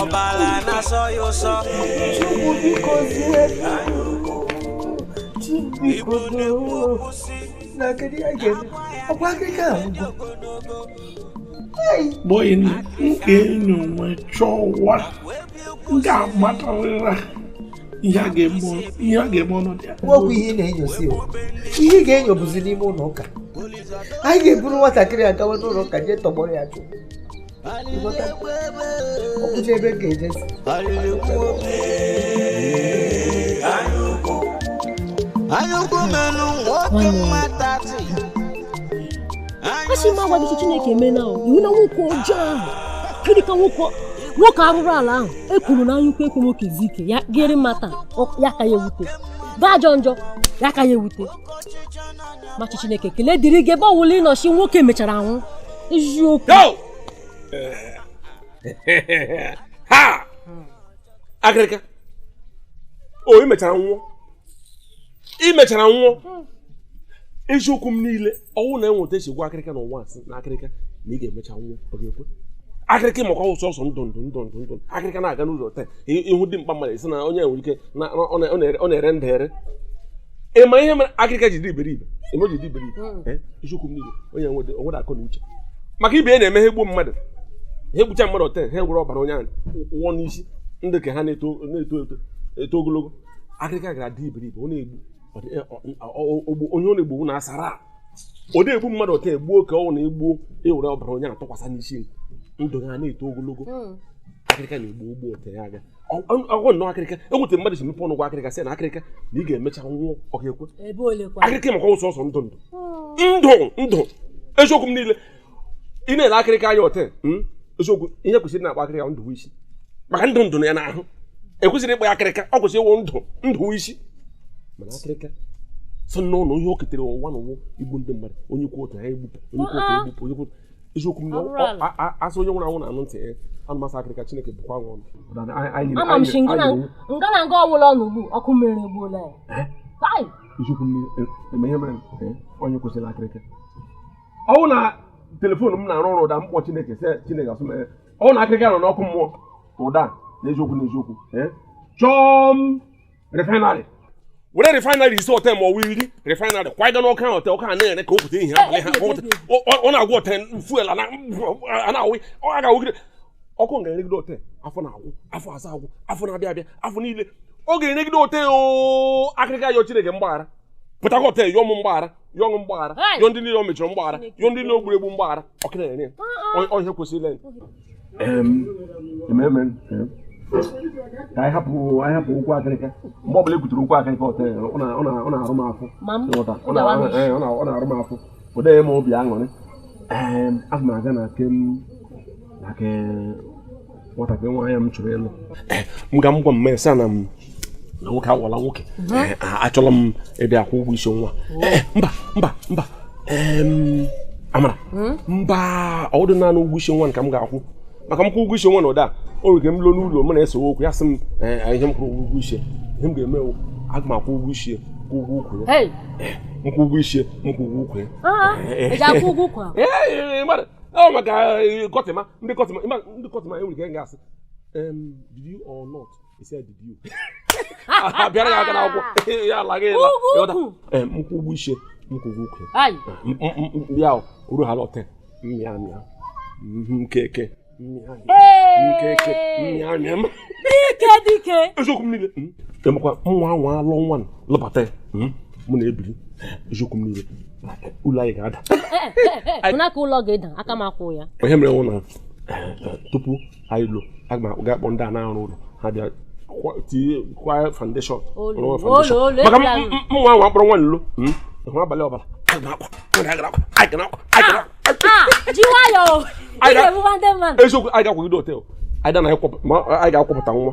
ọbala na-asọ ya ụsọ Chukwu biko zie Chukwu biko doo na kedu ihe a ga-eme ọkwa akịka ahụ gbọọ ya na nke enyi onwe chọọ ụwa m ga-amatarịra ihe a ga-eme ọnọdụ ya nwekwa ihe ị na-enyosi ihe ị ga-enyo bụzi n'ime ụlọ ụka anyị ga-eburu nwatakịrị a gawa n'ụlọ ụka jee tọgbọrọ ya chụọ ọkụcha ebe ka ejesi anya ukwu menụ nwoke mmata tị asị m agwa gị chineke mee na ọ wụ na nwoke ọjọọ ahụ gịnị ka nwoke nwoke arụrụ ala ahụ e kwuru na anya ukwu ekwe nwoke zuo ike ya gịrị mata ya aka ya ewute ga-ajọ njọ ya aka ya ewute ma chi chineke ekele dịrị gị ebe ọ wụla ị nọchi nwoke mechara anwụ eziokwu ha akịrịka o i mechara nwụọ i mechara nwụọ eziokwu m niile ọ wụ na enweta esi gwa akịrịka n'ụwa asị na akịrịka na ị ga-emecha nwụọ ọ ga-ekwe akịrịka maka ọ wụ sọsọ ndụ ndụ ndụ ndụ ndụ akịrịka na-aga n'ụzọ taa ị hụ dimkpa mmadụ ị sị na onye nwere ike ọ na-ere ndụ ere ị ma ihe mere akịrịka ji dị iberibe eme ji dị iberibe hmm. eh, eziokwu m niile onye nwede onwede akọ na uche maka ibe na-eme ha egbuo mmadụ ha egbucha mmadụ ọte ha ewere ọbara onye ahụ wụọ n'isi ndụ nke ha na-eto eto eto ogologo akịrịka gara dị iberibe ọ na-egbu eh, onye ọ na-egbu na asara ọ na-egbu mmadụ ọte egbuo ka ọ na-egbuo ewere ọbara onye ahụ tụkwasị n'isi ndụ ha na-eto ogologo hmm. akịrịka na-egbu egbu ọte ya aga ọgwụ nnọọ akịrịka enweta mmadụ si mepe ọnụ gwa akịrịka sị na akịrịka na ị ga-emecha nwụọ ọ ga-ekwe akịrịka maka ọ wụ sọsọ ndụ ndụ ndụ ndụ eziokwu m niile ị na-ele akịrịka anya ọte hmm? eziokwu ihe e kwesịrị na-akpọ akịrịka Ndụbuisi maka ndụ dị ya n'ahụ e kwesịrị ịkpọ akịrịka ọ kwesịrị ịwụ Ndụbuisi mana akịrịka sọ nnọọ ihe o ketere ụwa na ọ wụ igbu ndị mmadụ onye kwu otu ya egbupụ onye kwu otu egbupụ onye kwu eziokwu asị onye nwụrụ anwụ na-anụ ntị ya nụ m sị akịrịka chineke bụkwa nwa ọnụ ama m shi nga na nga ọwụla ọ nọ ugbu a ọkụ mmụọ eregbuola ya eh? eziokwu m niile eh, eme ihe mere eh, onye kwesịrị akịrịka ọ wụ na telefon m na-arụ ọrụ ụda m kpọọ chineke sị chineke asụ mere ọ wụ na akịrịka nọ n'ọkụ mmụọ ụda na eziokwu na eziokwu chọọ m refinery were refinery isii ọte ma ọ wụ iri refinery kwaga n'ọkụ ahụ ọte ọkụ a na-ere ka ụtụtụ ehihie abalị ha ọ na-agwụ ọte fuel a na-awụ ọ ga-awụgide ọkụ ga-eregide ọte afọ na-agwụ afọ asaa agwụ afọ na-abịa abịa afọ niile ọ ga-eregide ọte akịrịka yọọ Chineke mgbaghara pụta ka ọte yọọ m mgbaghara yọọ m mgbaghara yọọ ndị niile o mechọrọ mgbaghara yọọ ndị niile o gburu egbu mgbaghara ọkụ na-ere ya ọ wụ ihe kwesịrị ka anyị hapụ anyị hapụ okwu akịrịka mgbe ọbụla ekwutere okwu akịrịka hotel ọ na-arụ m afọ ọ na-arụ m afọ ọ dị m obi aṅụrị aga m aga na nke m na nke nwatakịrị nwaanyị m chọrọ ịlụ m ga m gwa m mesa na m na nwoke awụla nwoke eh, achọrọ m ịbịa kwụọ ụgwọ isi nwa oh. eh, mba mba mba amara hmm? mba ọ wụdị naanị ụgwọ isi nwa ka m ga-akwụ maka m kwụọ ụgwọ isi nwa na ụda o nwere ike m lụọ n'ụlọ m na-esewe okwu ya sị m eh, ihe m kwụrụ ụgwọ isi ihe m ga-eme aga m akwụ ụgwọ isi kwụ ụgwọ ukwu ya nkwụ ụgwọ isi nkwụ ụgwọ ukwu ya ọ maka kọtịma ndị kọtịma ndị kọtịma enwere ike ga-asị did you or not He said, did you? abịara ya aka n'akwụkwọ ya alaghị ịla mkwụ ụgwọ isi mkwụ ụgwọ ukwu ya uru ha lọte mmịa mịa nkeke mmịa nkeke mmịa mịa dike dike eziokwu m niile emekwa nwa nwa alụ nwa lụbata ya mụ na-ebiri eziokwu m niile ụlọ anyị ga-ada ụna ka ụlọ ga-ada aka m akwụ ya ihe mere nwụ na tupu anyị lụọ aga m ga-akpọ ndị a na-arụ ụlọ ha bịa tinye kwa foundation maka mụnwa nwa akpọrọ nwa n'ụlọ hmm? ịhụ abalị ọbara eziokwu anyị ga-akwagide until anyị ga-akwapụta nwa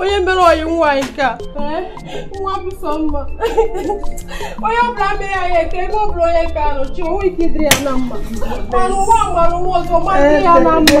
onye mere ọyị nwaanyị nke a nwa bụ sọ mma onye ọbụla mere ya ya eke ebe ọbụla onye nke a nọ chi onwe ike ịdịrị ya na mma mana ụwa mara ụwa ọzọ ma dị ya na mma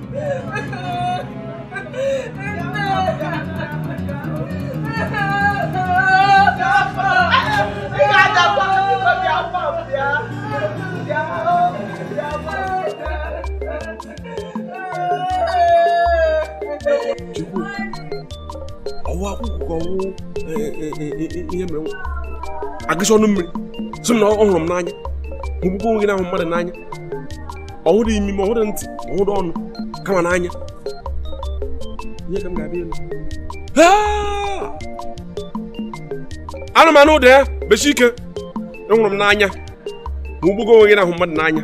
ọwụ akwụkwọ ọwụ e, e, e, ihe mere agụsị ọnụ mmiri sị na ọ hụrụ m n'anya hụgbukwa onwe gị na-ahụ mmadụ n'anya ọ hụrụ imi ma ọ hụrụ ntị ma ọ hụrụ ọnụ kama n'anya ihe ka m ga-abịa elu anụmanụ ụda ya bechi ike hụrụ m n'anya ma hụgbuo onwe gị na-ahụ mmadụ n'anya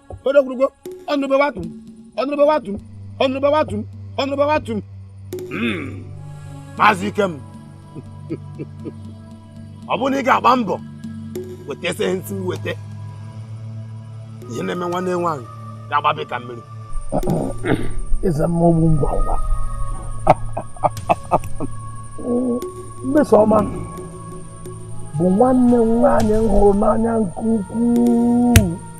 odogwurugo ọnụrụbe watum ọnụrụbe watum ọnụrụbe watum ọnụrụbe watum hmm. maazị ikem ọ bụrụ na ị ga-agba mbọ wetesị ihe ndị m si weta ihe na-eme nwanne nwaanyị ga-agbabe ka mmiri eze mmụọ ọ bụ ngwa ngwa mmesoma bụ nwanne m nwaanyị m hụrụ n'anya nke ukwuu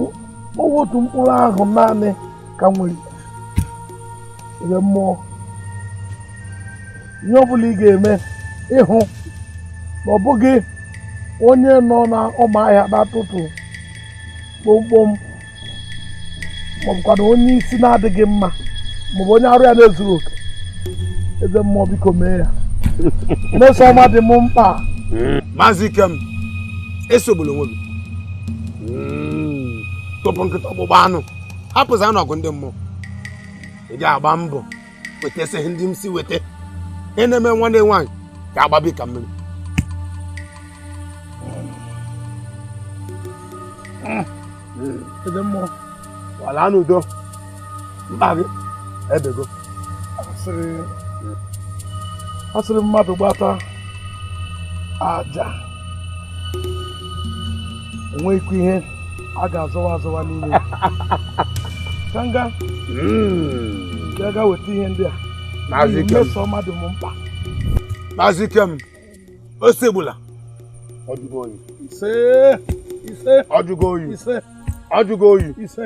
ọ wụ otu mkpụrụ ahụ naanị ka m nwere eze mmụọ ihe ọ bụla ị ga-eme ịhụ na ọ bụghị onye nọ n'ọma ahịa na-atụtụ kpomkpom maọbụkwanụ onye isi na-adịghị mma maọbụ onye arụ ya na-ezughị oke eze mmụọ biko mee ya mmesoma dị m mkpa maazị ikem esogbula onwe gị hmm. tụpụ nkịta ọkpụkpụ anụ hapụzi ya na ọgụ ndị mmụọ ị ga-agba mbọ wetesị ihe ndị m si weta ihe na-eme nwanne nwaanyị ga-agbabe ka mmiri eze mmụọ ngwa laa n'udo mkpa gị ebego asịrị asịrị mmadụ gbata aja o nweghịkwa ihe a ga-azọwa azọwa n'ime ka m ga ga ga weta ihe ndị a Maazị Ikem. Mmesoma dị m mkpa Maazị Ikem esogbula ọjụgo oyi ise ise ọjụgo oyi ise ọjụgo oyi ise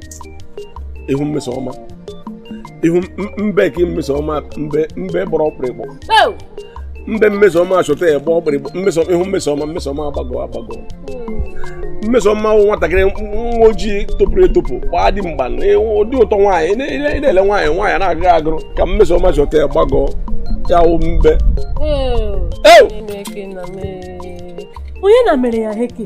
ihu mmesoma ihu mbe ka mmesoma mbe mbe gbọrọ ọkpụrịkpụ mbe mmesoma achọta ya gba ọkpụrịkpụ mmeso ihu mmesoma mmesoma agbagọ agbagọ mmesoma wụ nwatakịrị nwa ojii topụrụ etopụ gbaa dimkpa ụdị ụtọ nwaanyị na-ele nwaanyị nwaanyị na-agụrụ agụrụ ka mmesoma chọta ya gbagọọ ya wụ mbe onye na mere ya heke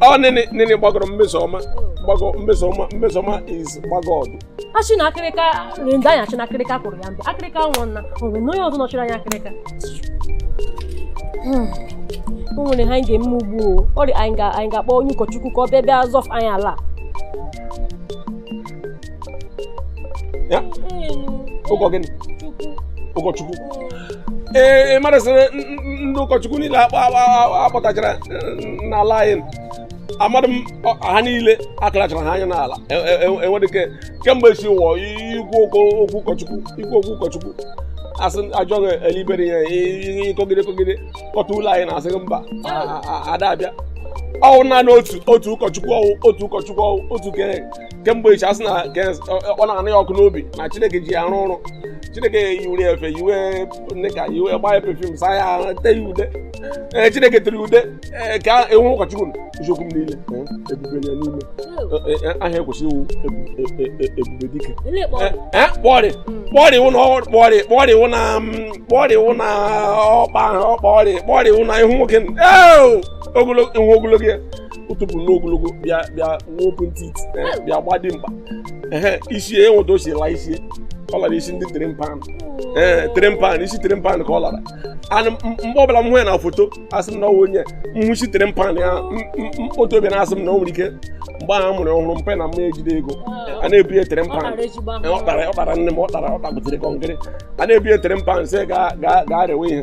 ọ nene nene gbagọrọ mmesoma gbagọ mmesoma mmesoma is gbagọ ọdụ achị na akịrịka ndị anyị achị na akịrịka kụrụ ya mbụ akịrịka nwụọ nna o nwere na onye ọzọ nọchiri anya akịrịka Hmm. o nwere ihe anyị ga-eme ugbu o ọrịa anyị ga- anyị ga-akpọ onye ụkọchukwu ka ọ bịa bịa zọfụ anyị ala a. ụkọ gịnị ụkọchukwu ee mmadụ sịrị ndị ụkọchukwu niile a kpọtachara n'ala anyị amadị m ha niile akụlachara ha anya n'ala enwedị ike kemgbe si ụwa ikwu okwu ụkọchukwu ikwu okwu ụkọchukwu a sị ajọghị elibere ya ịkọgide kọgide kọta ụlọ anyị na-asị mba ada abịa ọ wụ naanị otu otu ụkọchukwu ọ wụ otu ụkọchukwu ọ wụ otu kere kemgbe echi a sị na ọ na-anụ ya ọkụ n'obi na chineke ji ya arụ ọrụ chineke yiwere ya efe yiwe nịka yiwe gbaa ya pefum saa ya te ya ude ee chineke tere ude ee ka enwe ụkọchukwu eziokwu m niile ebube ya n'ime aha e kwesịrị ịwụ ebube dike kpọrị kpọrị wụ na kpọrị kpọrị wụ na kpọrị wụ na ọkpa ọkpa ọrị kpọrị wụ na ihu nwoke ogologo ihu ogologo ya ụtụpụ n'ogologo bịa bịa nwoke ntị eh, bịa gba dị mkpa ee isi ya enweta o si la isi ọ lara isi ndị tray pan ee eh, tray pan isi tray pan ka ọ lara anụ mgbe ọ bụla m hụ ya na foto asị m na ọ wụ onye mhụ isi tray pan ya otu obi na-asị m na o nwere ike mgbe ahụ mụrụ ọhụrụ mpa na mma ejidị ego a na-ebu ya tray pan ọ kpara ọ kpara nne m ọ kpara ọ kpagbutere kọnkịrị a na-ebu ya tray pan sị ga ga gaa rewe ihe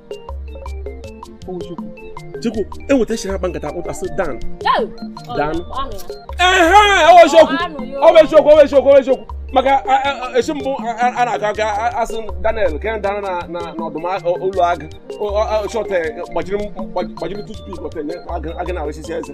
Chukwu enweta echiri akpa nkata akpụta sị Dan Dan ehe ọ wụ eziokwu ọ bụ eziokwu ọ bụ eziokwu ọ bụ eziokwu maka e si mbụ a na-akọ aka a sị Daniel ka dara na ọdụm ụlọ agụ shọt gbajiri tupu agụ na-arụsisi eze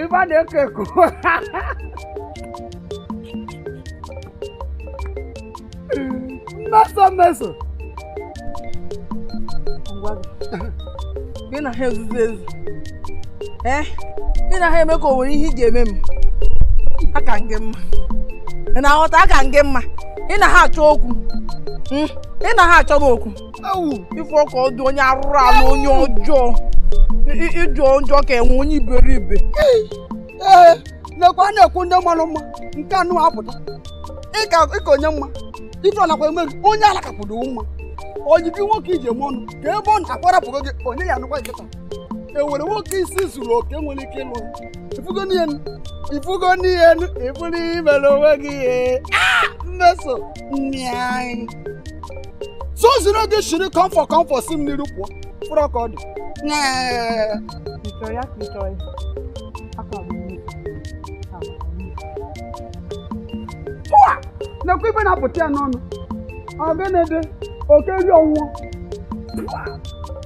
ife na-eko eko Mmeso Mmeso ngwa gị gị na ha ezuzu ezu ee gị na ha eme ka o nwere ihe ị ga-eme m aka m gị mma ị na-aghọta aka m gị mma ị na ha achọ okwu Mm, ị na ha achọ m okwu ewu ị fụ ka ọ dị onye arụrụ ala onye ọjọọ ị jọ njọ ka enwe onye iberibe ee nekwa a na-ekwu ndị malụ mma nke nụwa apụta ị ka onye mma ife ọ nakwa eme onye ala kapụrụ mma onye bụ nwoke i ji eme ọnụ ke ebe ọ nọ ọ kwa ọ rapụgo gị onye ya anụkwa nkịta e nwerọ nwoke isi zuru oke nwere ike ịlụ ị fụgo n'ihe ị fụgo n'ihe ị fụrụ i mere onwe gị ihe Mmeso sozirọ gị shiri kọmfọ kọmfọ si m n'iru pụọ fụrụ ka ọ dị nekwa ife na-apụta ya n'ọnụ ọ gịnị dị oke ri ọnwụọ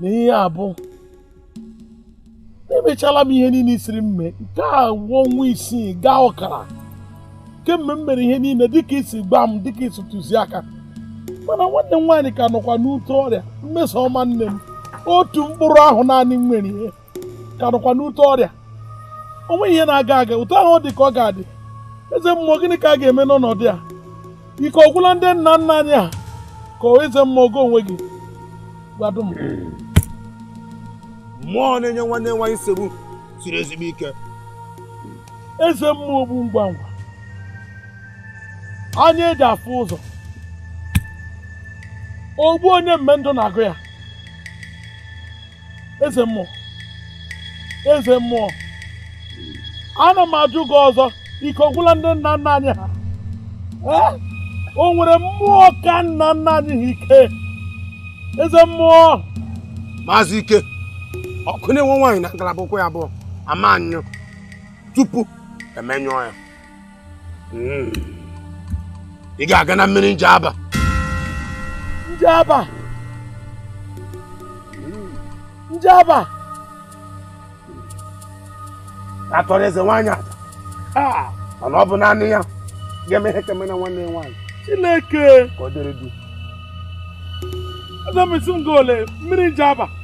na ihe a bụ emechala m ihe niile ị sịrị m mee nke a wụ ọnwa isii gaa ọkara kemgbe m mere ihe niile dịka i si gwa m dịka i si tụzie aka mana nwanne m nwaanyị ka nọkwa n'ute ọrịa mmeso ọma nne m otu mkpụrụ ahụ naanị m nwere ihe ka nọkwa n'ute ọrịa o nweghị ihe na-aga aga otu ahụ ọ dị ka ọ ga-adị eze mmụọ gịnị ka a ga-eme n'ọnọdụ a ike ọgwụla ndị nna nna anyị ha ka eze mmụọ gị onwe gị gwadụ m mmụọ na-enye nwanne nwaanyị nsogbu siri ezigbo ike eze mmụọ ogbu ngwa ngwa anya e ji afụ ụzọ ogbu onye mme ndụ na-agụ ya eze mmụọ eze mmụọ ana m ajụ gị ọzọ ike ọgwụla ndị nna nna anyị ha o nwere mmụọ ka nna nna anyị ha ike eze mmụọ maazị ike ọkụ na-enwu nwaanyị na ngalaba ụkwụ ya abụọ ama anyụ tupu e menyụọ ya hmm. ị ga-aga na mmiri njaba njaba njaba atọrọ eze nwaanyị aja mana ọ bụ naanị ya ga-eme ihe keme na nwanne nwaanyị chineke ka ọ dịrị ị sị m gaa olee mmiri njaba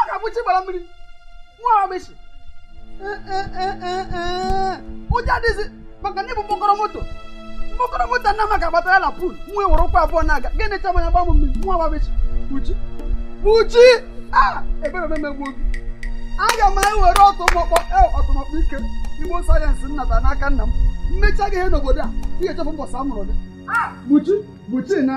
ọga buchi gbara mmiri nwa bar beach ụjọ adịghịzi maka na ịbụ mkpọkọrọ moto mkpọkọrọ moto nna maka agbatara na pul nwa were ụkwụ abụọ na-aga gịnị chama ya gbamụ mmiri nwa bar beach buchi buchi a ebere omemegbuo gị aga m ewere ọtụmọkpọ ọtụmọkpọ ike igbo sayensị m nata n'aka nna m mechaa gị ihe n'obodo a ị ga-echefu mbọsị a mụrụ gị buchi buchi na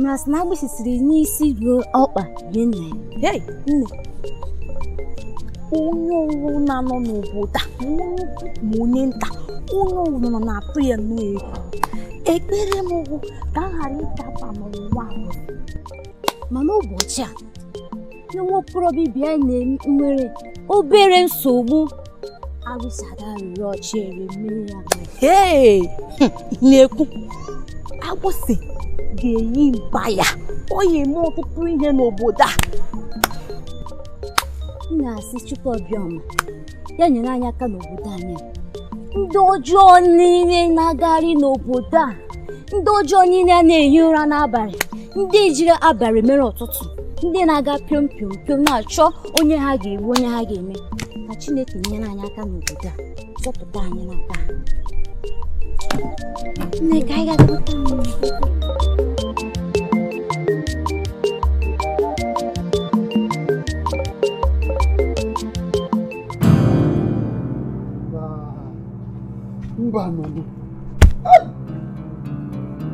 mara sị na agbịsị siri n'isi ruo ọkpa yie nna ya hei nne onye ọwụna nọ n'obodo a ma onye ukwu ma onye nta onye ọwụna nọ na-atụ ya nnọọ egwu ekpere m bụ ka m ghara ịdaba n'ụwa a. mana ụbọchị a na nwa okorobịa ibe ya nwere obere nsogbu agbịsị ada rụrụ ọchị ere mmiri ya ee na-ekwu agbịsị ga-eyi mba ya ọ ya eme ọtụtụ ihe n'obodo a m na-asị chukwu obiọma ya nyere anyị aka n'obodo anyị ndị ọjọọ niile na-agagharị n'obodo a ndị ọjọọ niile a na-ehi ụra n'abalị ndị jiri abalị mere ụtụtụ ndị na-aga piom piom piom na-achọ onye ha ga-egbu onye ha ga-eme ka Chineke nyere anyị aka n'obodo a zọpụta anyị n'aka ha nne ka anyị ga-azọpụta mba nọnụ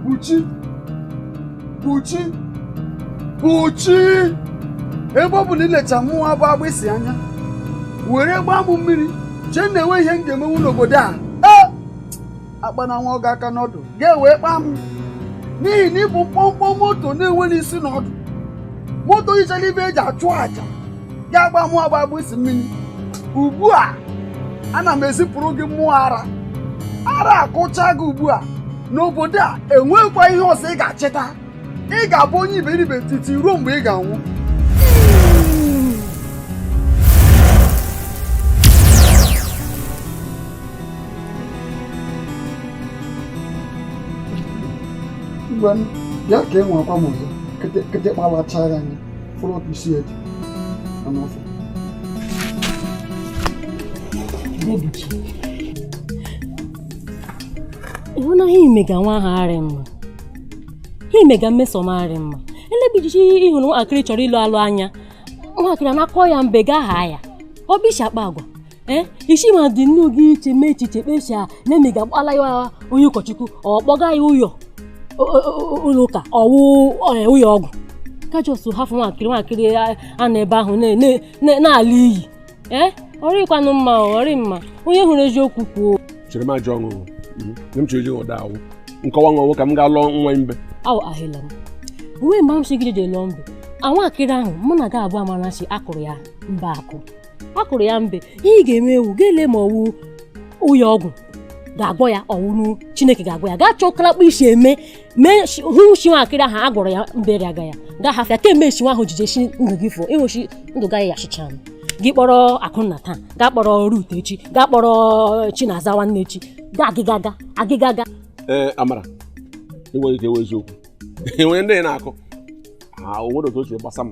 Buchi Buchi Buchi ebe ọ bụ na i lecha mụa bụ Agbịsị anya were gbaa m mmiri chee na enwe ihe m ga-emenwu n'obodo a ee akpana nwa agụ aka n'ọdụ gaa wee kpaa m n'ihi na ị bụ mkpọmkpọ moto na-enweghị isi na ọdụ moto yichara ibe eji achụ aja ga-agba mụa bụ Agbịsị mmiri ugbu a ana m ezipụrụ gị mmụọ ara ara akụcha gị ugbu a n'obodo a enweghịkwa ihe ọzọ ị ga-echeta ị ga-abụ onye iberibe titi ruo mgbe ị ga-anwụ ngwa bịa ka e nwekwa m ọzọ kịtịkpa lachaa ya anya fọrọ ọkụ isi ya dị anụ ọfịa ị hụna ihe i mega nwa ahụ arị mma ihe i mega Mmesoma arị mma elebijichi ị hụrụ nwatakịrị ị chọrọ ịlụ alụ anya nwatakịrị a na-akụ ya mbe gaa ha ya ọ bụ isi akpa agwa Eh, isi ma dị nnu gị iche mee echiche kpesia na emi ga-agbala ya onye ụkọchukwu ọ kpọga ya ụyọ ụlọ ụka ọ wụ eh, ụyọ ọgwụ kajọs hafụ nwaakịrị nwaakịrị a na ebe ahụ na-ala iyi ee eh, ọ rịkwanụ mma ọ rị mma onye hụrụ eziokwu kwuo chere m ajọ ọṅụṅụ mhm. m chọrọ iji ụda awụ nkọwa nwa ka m ga lụọ nwa mbe aw ahịla m uwe mgbe m si gị jede lụọ mbe nwaakịrị ahụ mụ na gị abụọ amarachi a kụrụ ya mbe akụ a kụrụ ya mbe ihe ị ga-eme wụ ga-ele ma ọ wụ ụyọ ọgwụ ga-agwọ ya ọ wụrụ Chineke ga-agwọ ya gaa chọọ kalakpa isi eme mee hụ shi nwaakịrị ahụ a gwọrọ ya mbere aga ya gaa hafụ ya kemgbe esi nwa ahụ jije shi ndụ gị fụ ịnwechi ndụ gaghị ya achịcha m gị kpọrọ Akụnna taa gaa kpọrọ Rut echi gaa kpọrọ Chinaza nwanne echi gaa agịgaga agịgaga ee amara enweghị ike ewe eziokwu enwere ndị na-akụ o nwere otu o shi gbasa m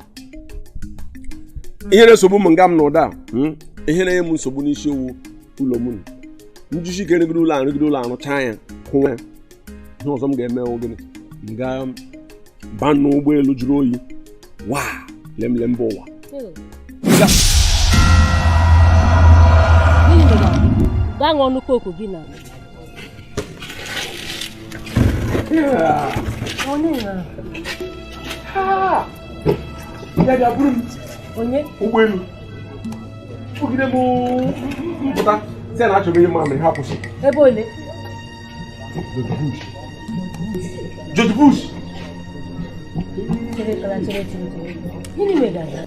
ihe na-esogbu m nga m na ụda hmm? ihe na-enye m nsogbu n'isi ọ wụ ụlọ m njisi ike rụgide ụlọ arụgide ụlọ arụcha ya kwụwa ya ihe ọzọ m ga-eme gịnị m gaa baa n'ụgbọelu jụrụ oyi wa lemle mba ụwa gaa ṅụọ nnukwu oku gị na ụgbọelu ogide m m pụta sị na achọrọ ihe mamịrị ha kwụsị ebe ole George Bush gịnị mere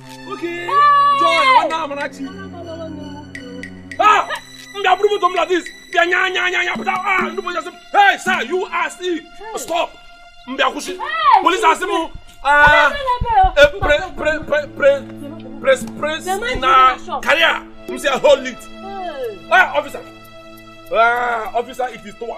Okay. Joy, nwanne Amarachi. Ah! M bịa buru moto m like this bịa nya nya nya nya pụta ah ndị polisi asị m hey sir you are still stop m bịa kwụsị polisi asị m ah eh, pre pre pre pre press press na karịa m sị hold it ah officer ah officer it is towa.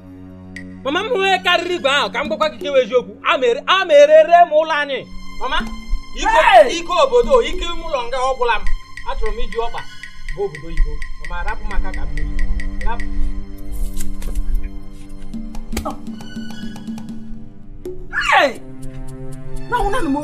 mama m nwee karịrị igwe ahụ ka m gwakwa gị kewa eziokwu a ma erere m ụlọ anyị mama ike obodo ike ime ụlọ nga agwụla m achọrọ m iji ọkpa bụ obodo oyibo mama arapụ maka ka m rapụ Hey! No, no, no.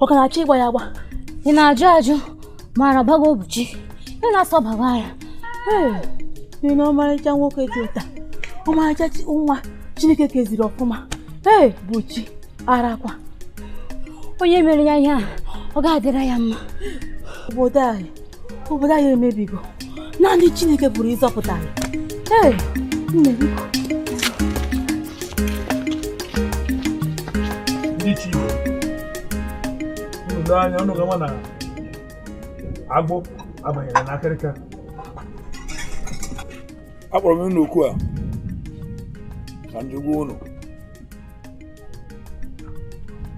ọ ka na-achọ ịgba ya agba ị na-ajụ ajụ ma ara gbago Obuchi ị na-asị ọ gbawa ya ị na ọmarịcha nwoke dị otu a ọmarịcha nwa Chineke keziri ọfụma ee Buchi ara kwa onye mere ya ihe a ọ ga-adịra ya mma obodo anyị obodo anyị emebigo naanị Chineke pụrụ ịzọpụta anyị ee nne biko hichaanụ anya unu ga-ama na agwọ abanyela na akịrịka akpọrọ m unu oku a ka m ji gwa unu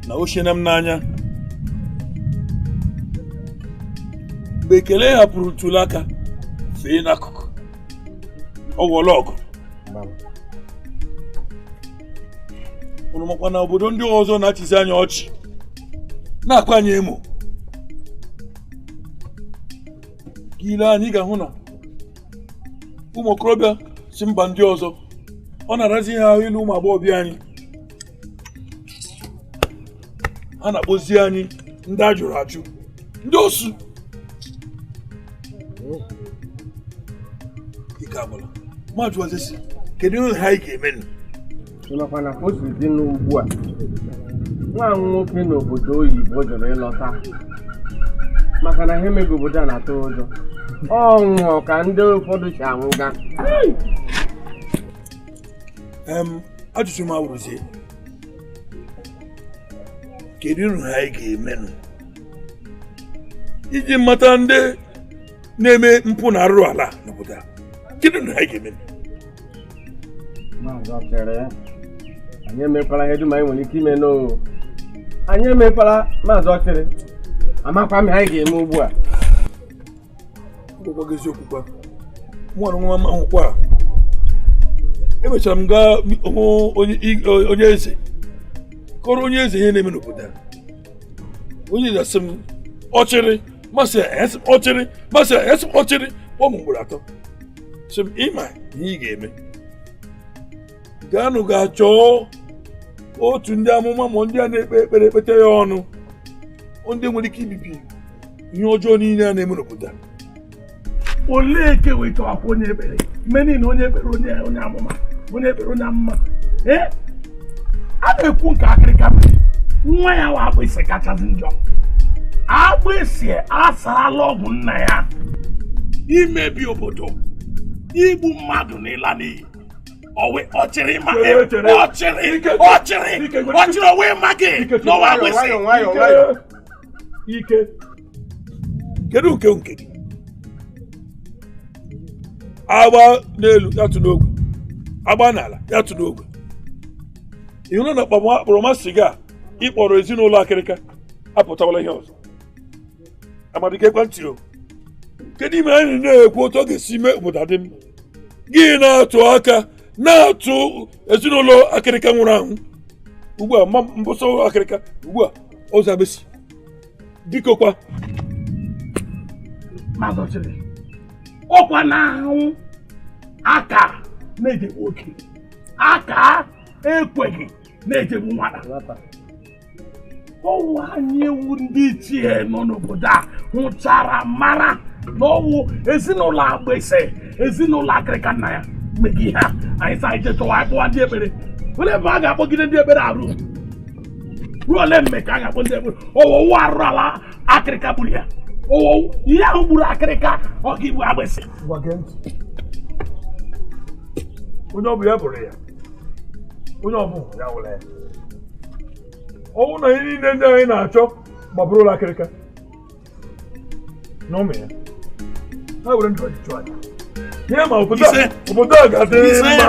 na o shiena m n'anya mgbe ekele hapụrụ ntuli aka fee n'akụkụ ọ ghọọla ọgụ unu makwa na obodo ndị ọzọ na-achịzi anyị ọchị na-akwa anyị emo ị lee anya ị ga-ahụ na ụmụ okorobịa si mba ndị ọzọ ọ na-arazi ha ahụ ịlụ ụmụ agbọghọbịa anyị a na-akpọzi anyị ndị a jụrụ ajụ ndị osu ike agwụla m ajụwazi sị kedu ihe a anyị ga-eme nụ ị makwa na o si dị n'ugbu a nwa m nwoke n'obodo oyibo jụrụ ịlọta maka na ihe mega obodo a na-atụ ụjọ ọ nwụọ ka ndị ụfọdụ si anwụga em ajụjụ m awụrụzie kedu ihe anyị ga-emenụ iji mata ndị na-eme mpụ na arụrụ ala n'obodo a kedu ihe anyị ga-emenụ maazị ọchịrị anyị emekwala ihe dum anyị nwere ike ime n'o anyị emekwala maazị ọchịrị amakwa m ihe anyị ga-eme ugbu a gị eziokwu kwa nwa nwa m ahụkwa emechara m gaa hụ onye eze kọrọ onye eze ihe na-eme n'obodo a onye eze asị m ọchịrị m asị e sị m ọchịrị m asị e sị m ọchịrị kpọọ m ugboro atọ sị m ị ma ihe ị ga-eme gaanụ gaa chọọ otu ndị amụma ma ndị a na-ekpe ekpere ekpete ya ọnụ ndị nwere ike ibibi ihe ọjọọ niile a na-eme n'obodo a olee nke wetawakwa onye ekpere mgbe niile onye ekpere onye onye amụma onye ekpere onye amụma ee a na-ekwu nke akịrịka mere nwa ya wụ agbịsị kachasị njọ agbịsị asarala ọgwụ nna ya imebi obodo igbu mmadụ na ịla n'iyi ọwẹ ọchịrị ma ẹ ọchịrị ọchịrị ọchịrị ọwẹ ma gị na ọ wụ agbịsị. ike kedu nke nke gị a gbaa n'elu ya tụọ n'ogwe a gbaa n'ala ya tụọ n'ogwe ị hụrụ na mkpọrọmasị gị a ị kpọrọ ezinụlọ akịrịka apụtawala ihe ọzọ amadi geekwa ntị o kedu ihe mere anyị na-ekwu otu ọ ga-esi mee obodo adị mma gị na-atụ aka na-atụ ezinụlọ akịrịka nwụrụ anwụ ugbu a mbụ sọ akịrịka ugbu a ọzọ agbịsị biko kwa maazị ọchịrị ọ kwa na a hụ aka na-ejegbu oke a kaa ekweghị na-ejegbu nwata ọ wụ anyị wụ ndị ichie nọ n'obodo a hụchara mara na ọ wụ ezinụlọ agbịsị ezinụlọ akịrịka nna ya mega ihe a anyị sa ije chọwa akpọwa ndị ekpere ole mgbe a ga-akpọgide ndị ekpere arụ ruo ole mgbe ka a ga-akpọ ndị ekpere ọ wụ arụrụ ala akịrịka gburu ya ọ wụ ihe ahụ gburu akịrịka ọ ga-egbu agbịsị onye ọ bụ ya bụrụ ya onye ọ bụ ya wụrụ ya ọ wụ na ihe niile ndị anyị na-achọ ga-abụrụ ụlọ akịrịka na ụmụ ya ha were ndụ ọjị chụọ aja ihe ma obodo a obodo a ga-adị mma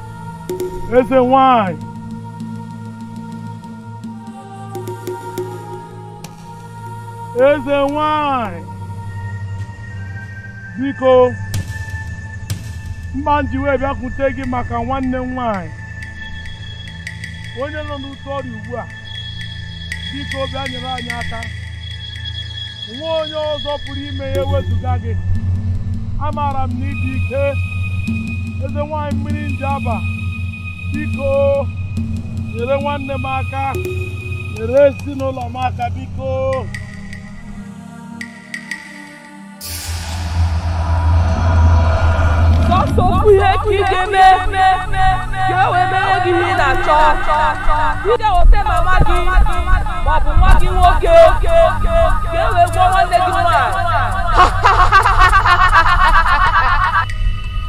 eze nwanyị eze nwanyị biko mma m ji wee bịakwute gị maka nwanne m nwanyị onye nọ n'ute ọrịa ugbu a biko bịa nyere anyị aka o nwe onye ọzọ pụrụ ime ya ewezụga gị amaara m na ị dị ike eze nwanyị mmiri njaba biko nyere nwanne m aka nyere ezinụlọ m aka biko otu ihe ka ị ga-eme ka e wee mere gị ihe ị na-achọ ị ga-eweta mama gị ma ọ bụ nwa gị nwoke ka e wee gwọọ nwanne gị nwaanyị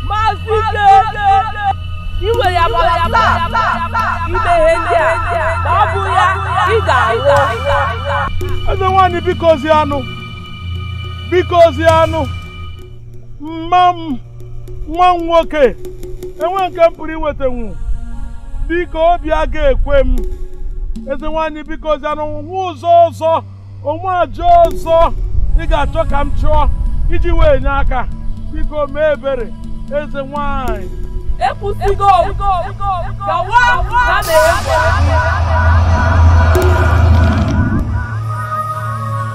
maazị ike ị nwere abalị atọ ime ihe ndị a ma ọ bụ ya ị ga-anwụ eze nwaanyị bikozianụ bikozianụ mma m nwa m nwoke enwe nke m pụrụ iwetanwu biko obi a ga-ekwe m eze nwaanyị bikozianụ o nwe ụzọ ọzọ o nwe aja ọzọ ị ga-achọ ka m chụọ iji wee nye aka biko mee ebere eze nwaanyị ekwusigo gawa na mere